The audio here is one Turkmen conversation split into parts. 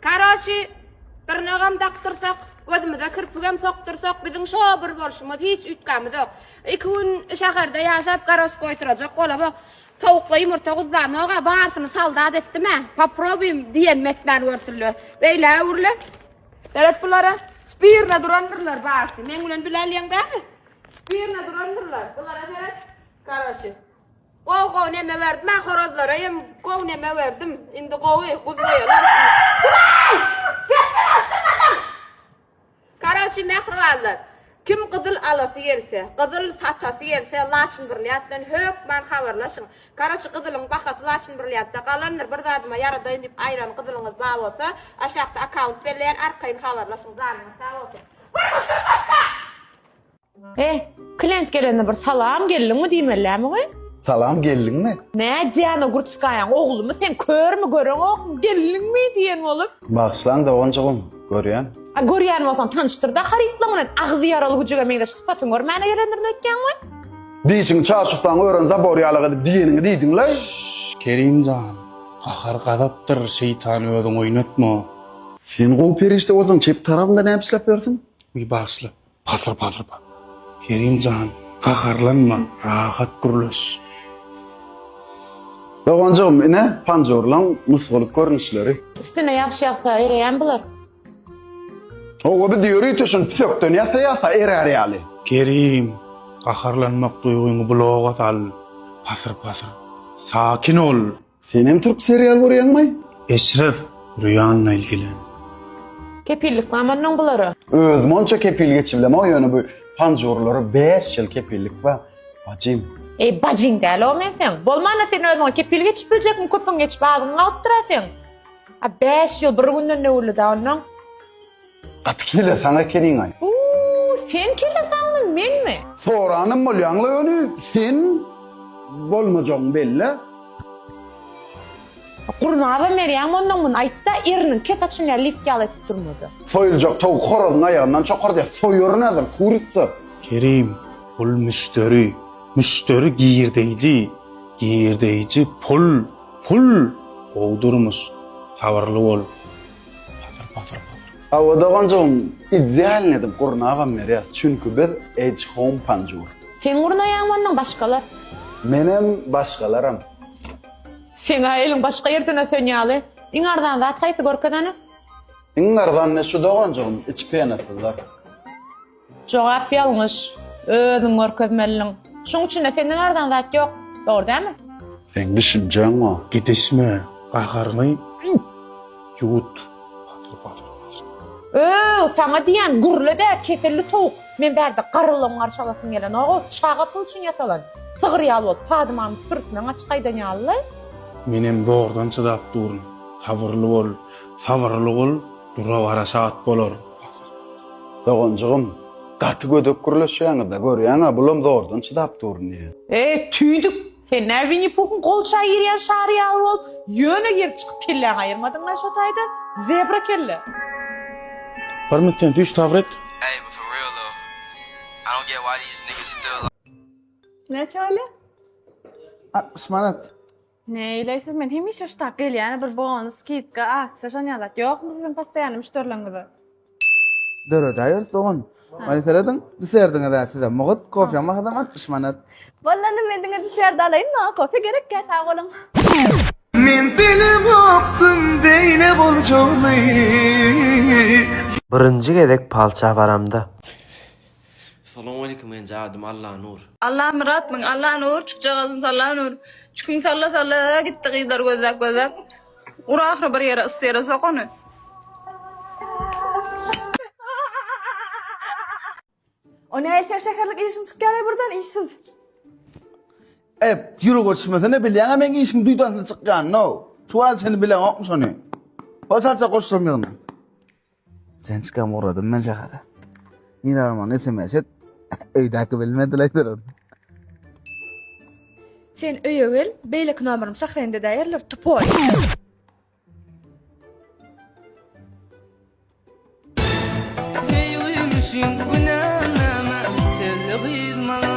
Karoçi bir nagam dakdyrsak, gözümize kirpigem sokdursak, biziň şo bir bolşumyz hiç üýtgämizok. Iki gün şäherde ýaşap garoç goýdurajak bolamok. Towukla ýumurta guzzanok-a, barsyny soldat etdim-ä. Poprobuýum diýenimi etmän görsünler. Beýle öwrülen. Belet bulara spirna durandyrlar barsy. Meň bilen bile alýaň dälmi? Spirna durandyrlar. Bulara seret. Karoçi. Gowy gowy neme berdim ha horazlara hem gowy neme berdim. Indi gowy guzlaýarlar. Karoçi mähribanlar. Kim gyzyl alasy gelse, gyzyl satasy gelse, Laçyn Birliatdan hökman habarlaşyň. Karoçi gyzylyň bahasy Laçyn Birliatda galandyr. Bir zadyma ýaradaýyn diýip aýran gyzylyňyz bar bolsa, aşakda akkaunt belleýän arkaýyn habarlaşyň. Janyňyz sag bolsun. Eh, klient gelende bir salam geldiňmi diýmellämi we? Salam geldiňmi? Nädýän o gurtskaýaň oglumy sen körmi göreňokmy geldiňmi diýen bolup. Bagyşlaň doganjygym, görýän. A görýän bolsaň tanyşdyrda harytlaň bilen agzy ýaraly güjüge meňzeş sypatyň görmäne gelendirin öýtýäň we? Dişiňi çarçuksaň ören zabor ýalyk edip diýeniňi diýdiňlaý. Şşş Kerim jan, gahar gazapdyr şeýtany öziň oýnatma. Sen gowy perişde bolsaň çep tarapynda näme işläp ýörsiň? Wiý bagyşla, Pasyr pasyr pasyr. Kerim jan, gaharlanma, rahat gürleş. Doganjygym, ine, panjurlaň nusgalyk görnüşleri. Üstüne ýagşy ýagsa, ereýän bular. Hawa, biz ýörite şuny püsekden ýasaýasa erär ýaly. Kerim, gaharlanmak duýgyňy bulaga sal. Pasyr pasyr. Sakin ol. Senem türk serial görýäňmi? Eşref, Rüýanla ilgilen. Kepillik bamy onnoň bulara. Özüm onça kepil geçibilemok ýöne bu panjurlara bäş ýyl kepillik bar bajym. Eý bajyň däl-ow men seň. Bolmanda sen özüňe kepil geçip biljekmi köpüň geçip agyň galypdyra seň. A bäş ýyl bir günden döwürli-dä onnoň. Gaty kelle saň ekeniňaý. Uuu sen kelle saňmy menmi. Soranam bolýaňla ýöne sen bolmajagyň belle. Gurnaba merýem ondan muny aýtda eriniň ket açyn ýa lift ýaly etip durmady. Soýuljak towuk horazyň aýagyndan çokar diýýär. Soýaryn häzir, kuritsa. Kerim, bul müşderi, müşderi girdeýji, girdeýji pul, pul, gowy durmuş, sabyrly bol. Patyr patyr patyr. Hawa doganjygym idealny edip gurnabam berýäs çünki biz edge home panjur. Sen gurnaýaňmy ondan başgalar. Menem başgalaram. Seňä eliň başga ýerden ösen ýaly. Iň arzan zat haýsy görkezene. Iň arzan ne şu doganjygym iç penasyzlar. Jogap ýalňyş. Özüň görkezmeliliň. Şuň üçin-de senden arzan zat ýok. Dogry dälmi? Seň düşünjäň-o. Gidişme, gaharyňy ýuwut. Batyr, batyr, batyr. Ööw, saňa diýýän, gürle-dä, keselli towuk! Men bärde garrylaň garşy alasym gelenok-ow, çaga pul üçin ýasalan, sygyr ýaly bolup, padymamy sürüsinden gaçyp gaýdan ýaly-laý. Menem zordan çydap durun. Sabyrly bol, sabyrly bol, dura-bara şat bolar. Doganjygym, gaty gödek gürleşýäňiz-dä, görýäň-ä, bulam zordan çydap dur indi. Eý, tüýdük, sen nä Winni-Puhyň golçaý girýän şary ýaly bolup, ýöne girip-çykyp kelläňi aýyrmadyň-a şo taýda, zebra kelle? Hormat sen düýş sabyr et. Näçe bolýa? Altmyş manat. Neýleýsiz men hemişe şu tak gelýän bir bonus skidka aksiýa şonýa zat ýokmy siziň postoýanny müşderilerňize. Döredäýeris dogan. Many serediň diserdiňizä sizem mugt kofýaň bahasam altmyş manat. Walla nime ediňe diserdi alaýyn maňa kofe gerekkä sag boluň. Men bilemokdym beýle boljagyny. Birinji gezek palça baramda. Salowmalikim men jadym Allanur. Allamyrat myn Allanur çykjagazyn Sallanur çükün salla salla gitdi gyzlar gözläp gözläp ur ahyry bir ýere ys ýere sok ony. O näl sen şäherlik işiň çykýaly burdan işsiz. Ep ýüri goçmesene bilýäňä meň işiň duýdansyz çykýanyny how. Tuwal seni bileňokmy şony. Hoşalça goşsam ýygna. Sen çykan ugradyň men şähere. Nir armany sms et. Öýdäki bilmediler. Sen öýe gel, beýleki nomerimi sahrende däýerler, tupoý. Söýgümüşin günänama, sözli gyz maňa.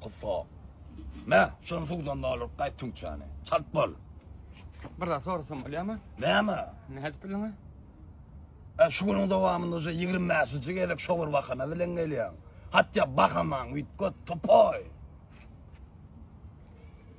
Kufa. Ne? Şunu suwdan dolup gaýt tüňçäni. Çalt bol. Bir zat sorasam bolýarmy? Näme? Nädip bildiňiz? E, şu günüň dowamynda şu 25-nji gezek şo bir bahana bilen gelýäň. Hatda bahaman üýtget, topoý.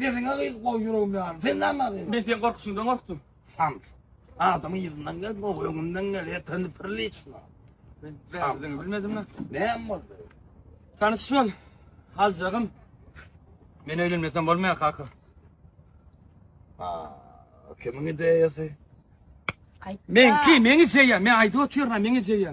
Sesiňe gyz gowy ýüregim ýanym. Sen näme agýyň? Men sen gorkyşyňdan gorkdum. Şans. Adamyň ýyzyndan gel, gowy öňünden gel, etini priliçno. Men bärdini bilmedim lan. Näme boldy? Tanyş bol. Aljagym. Men öýlenmesem bolmaýar kaka. Ha, kimiň ideýasy? Meňki, meň ideýa, men aýdyp otyryna, meň ideýa.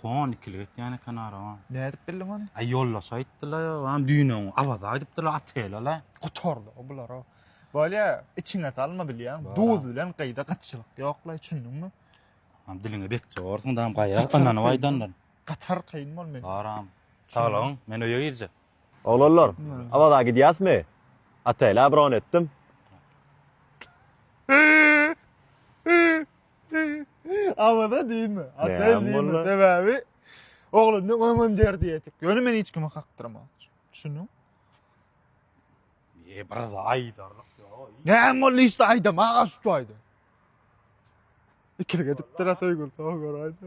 Pon ikilik etýän eken arabam. Nädip bildiň ony? Aý ýoldaş aýtdyla ýa wan düýnem Awaza gidipdila otelala. Gutardy o bular o. Bolýa içiňe salma bilýäň. Duz bilen gyýda gatyşylyk ýoklaý çündüňmi? Am diliňe bekje borsuň dam gaýa ynanyp aýdandyr. Gatar kyn bol men. Baram. Saglygyň men öýe girjek. Oglanlar Awaza gidýäsmi? Otela bron etdim. Awa-da diýme. Ataýyn Näme diýme. boldy? Sebäbi oglandan öňem derdi ýetik. Ýöne men hiç kimi kakdyrman. Düşündiň? E, biraz aýdarlyk ýok. Näme boldy işte aýdam aga şu aýda. Ikili gedipdir Ataýgül soň gör aýda.